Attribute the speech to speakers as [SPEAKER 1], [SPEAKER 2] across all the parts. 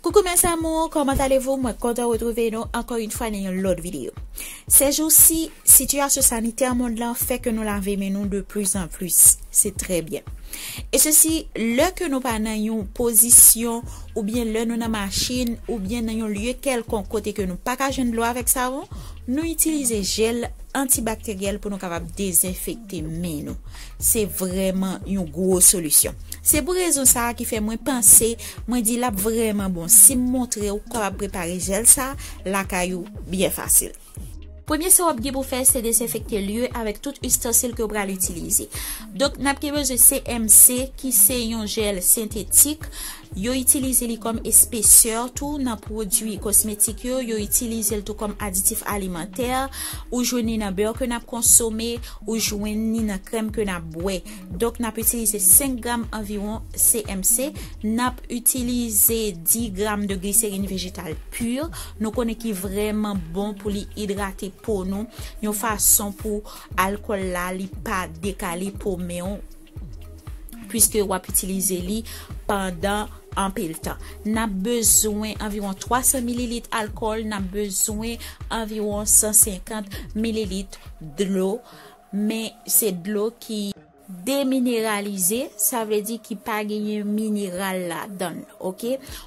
[SPEAKER 1] Coucou mes amours, comment allez-vous? Mwen kontan retrouve nou ankò yon fwa nan yon lòt videyo. Sejousi, sitiyasyon sanitè mond lan fè ke nou lave men nou de plus en plus. Se trè byen. E sesi, lè ke nou pa nan yon pozisyon ou byen lè nou nan machin ou byen nan yon lye kèlkonk kote ke nou pa ka jwenn dlo avèk savon, nou itilize jel Antibakteryèl pou nou kapab dezenfekte men nou. Se vrèman yon gwo solisyon. Se pou rezon sa a ki fè mwen panse, mwen di l ap vrèman bon si m montre w ou kapab prepare jèl sa a lakay ou byen fasil. Premye sa w ap gen pou fè se dezenfekte lye avèk tout istansil ke w pral itilize. Donk n ap gen bezwen CMC ki se yon jèl sentetik, Yo itilize li kòm espesè tou nan pwodui kosmetik yo, yo itilize l tou kòm aditif alimantè, ou jwenn li nan beurre ke n ap konsome, ou jwenn li nan krèm ke n ap bwè. Donk n ap itilize 5 gram anviwon CMC, n ap itilize 10 gram de glycérine végétale pure, nou konnen ki vrèman bon pou li idrate po nou yon fason pou alkòl la li pa dekale po men w. Piske w ap itilize li pandan anpil tan. N ap bezwen anviwon 300 mililit alkòl, n ap bezwen anviwon 150 mililit dlo, men se dlo ki. Demineralize, sa vle di ki pa genyen mineral ladan l. Ok.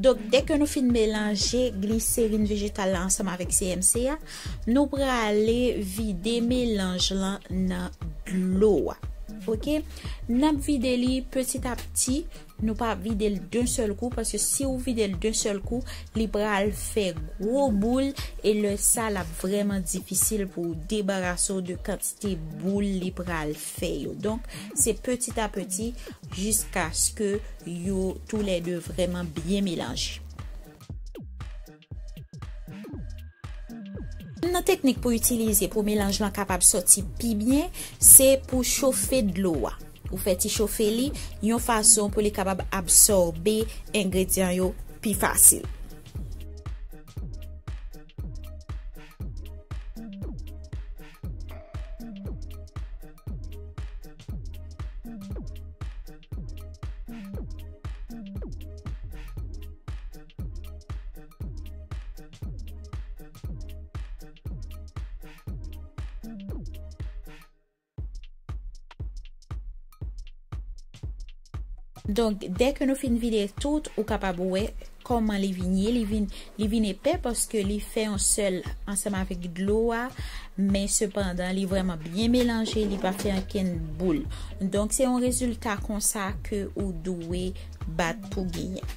[SPEAKER 1] Donk, dèke nou fin melanje gliserin vejetal la ansanm avèk CMC a, nou prale vide melanj lan nan dlo a. Ok? N ap vide li peti a peti. Nou pa vide l d'un sèl kou paske si ou vide l d'un sèl kou li pral fè gwo boul e lè sa l ap vrèman difisil pou ou debarase w de kantite boul li pral fè yo donk se petit a petit jiskaske yo tou lè 2 vrèman byen melanje. Youn nan teknik pou itilize pou melanj lan kapab sòti pi byen, se pou chofe dlo a. Ou fè ti chofe li yon fason pou li kapab absòbe engredyan yo pi fasil. Donk, dè ke nou fin vide tout, ou kapab wè kòman li vin ye. Li vin, li vin epè paske li fè yon sèl ansanm avèk dlo a, men sepandan li vrèman byen melanje, li pa fè ankenn boul. Donk, se yon rezilta konsa ke ou dwe bat pou genyen.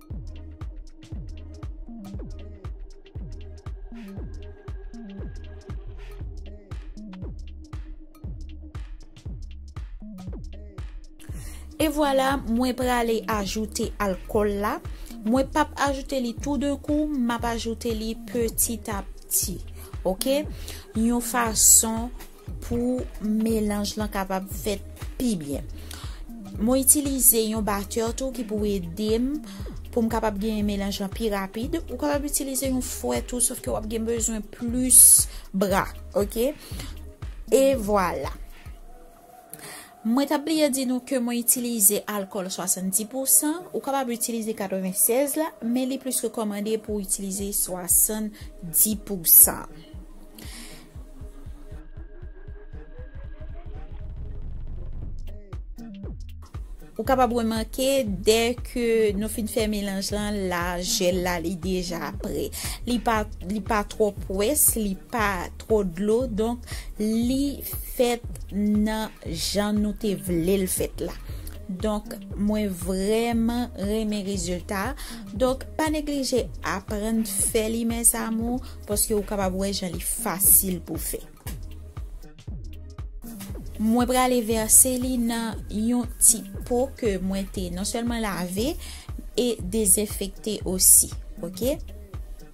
[SPEAKER 1] E vwala mwen prale ajoute alkol la, mwen pap ajoute li tou de kou, map ajoute li peti a peti. Ok, yon fason Pou melanj lan kapab fèt pi byen. Mwen itilize yon batteur tou ki pou edem poum kapab genyen melanj lan pi rapid. Ou kapab itilize yon fouè tou sof ke wap gen bezwen plis bra. Ok. E vwala. Mwen tap bliye di nou ke mwen itilize alkòl 70 pousan, ou kapab itilize 96 la, men li plis rekòmande pou w itilize 70 pousan. Ou kapab remake dè ke nou fin fè melanj lan la jèl la li deja prè. Li pa twò pwès, li pa twò dlo donk li fèt nan jan nou te vle l fèt la donk mwen vrèman renmen rezilta a donk pa neglije aprann fè li mes amour paske ou kapab wè jan li fasil pou fè. Mwen prale vèse li nan yon ti po ke mwen te non sèlman lave e dezenfekte osi ok.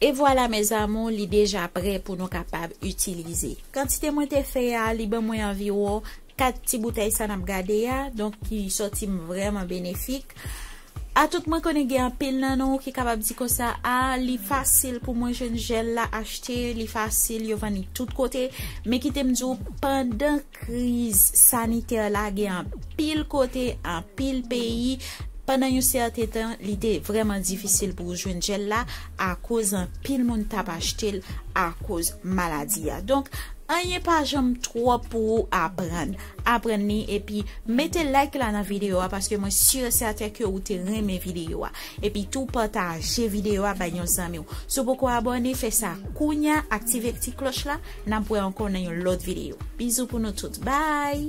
[SPEAKER 1] E vwala mes amour li deja prè pou nou kapab itilize. Kantite mwen te fè a li ban mwen anviwon 4 ti boutèy sa nap gade a donk ki sòti m vrèman benefik. Atout mwen konnen gen anpil nan nou ki kapab di konsa ah li fasil pou mwen jwenn jèl la achte li fasil yo vann li tout kote men kite m di w pandan kriz sanitè la gen anpil kote anpil peyi pandan yon sèten tan li te vrèman difisil pou w jwenn jèl la akoz anpil moun t ap achte l akoz maladi a donk anyen pa janm twòp pou ou aprann. aprann li epi mete like la nan video a paske mwen sur et certain ke ou te renmen video a epi tou pataje video a bay yon zanmiw si w poko abone fè sa kounya aktive ti kloch la nap wè ankò nan yon lòt video bizou pou nou tout bye.